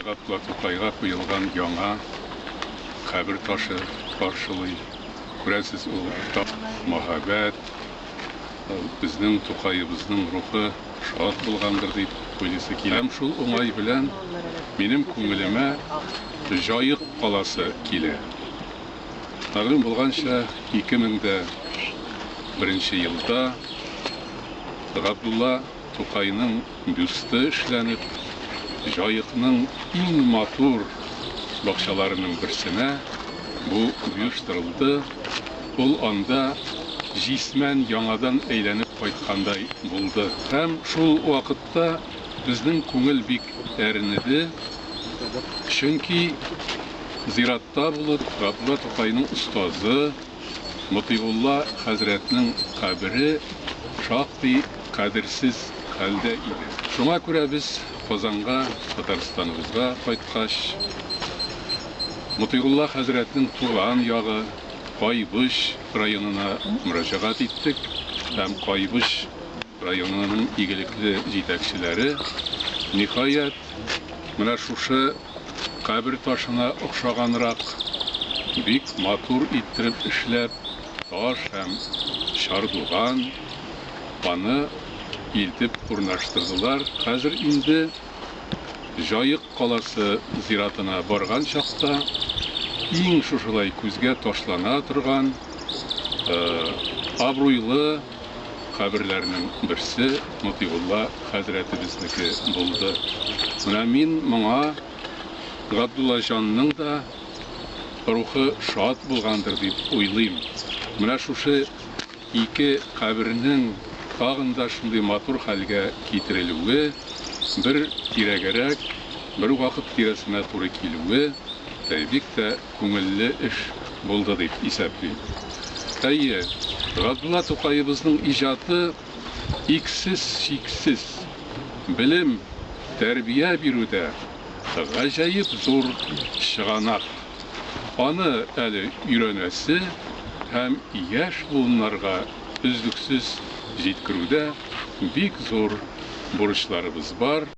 Гаплар Тукайга куелган яңа кабер ташы каршылый. Күрәсез, ул уртак мәһабәт, ул безнең Тукаебызның рухы шат булгандыр дип уйлыйсы килә. Һәм шул уңай белән минем күңелемә Җаек каласы килә. Мәгълүм булганча, 2001 елда Габдулла Тукайның бюсты эшләнеп, Җаекның иң матур бакчаларының берсенә бу оештырылды, ул анда җисмән яңадан әйләнеп кайткандай булды. Һәм шул вакытта безнең күңел бик әрнеде, чөнки зиратта булып Габдулла Тукайның остазы, Мотыйгулла хәзрәтнең кабере шактый кадерсез хәлдә иде. Шуңа күрә без Казанга, Татарстаныбызга кайткач, Мотыйгулла хәзрәтнең туган ягы Кайбыч районына мөрәҗәгать иттек һәм Кайбыч районының игелекле җитәкчеләре, ниһаять, Менә шушы кабер ташына охшаганрак, бик матур иттереп эшләп, таш һәм чардуган, аны илтеп урнаштырдылар. Хәзер инде Җаек каласы зиратына барган чакта, иң шушылай күзгә ташлана торган абруйлы, каберләрнең берсе Мотыйгулла хәзрәтебезнеке булды. Менә мин моңа Габдуллаҗанның да рухы шат булгандыр дип уйлыйм. Менә шушы ике кабернең тагын да шундый матур хәлгә китерелүе, бер тирәгәрәк, бер вакыт тирәсенә туры килүе бик тә күңелле эш булды дип исәплим. Әйе, Габдулла Тукаебызның иҗаты иксез-чиксез белем, тәрбия бирүдә гаҗәеп зур чыганак. Аны әле өйрәнәсе һәм яшь буыннарга өзлексез җиткерүдә бик зур бурычларыбыз бар.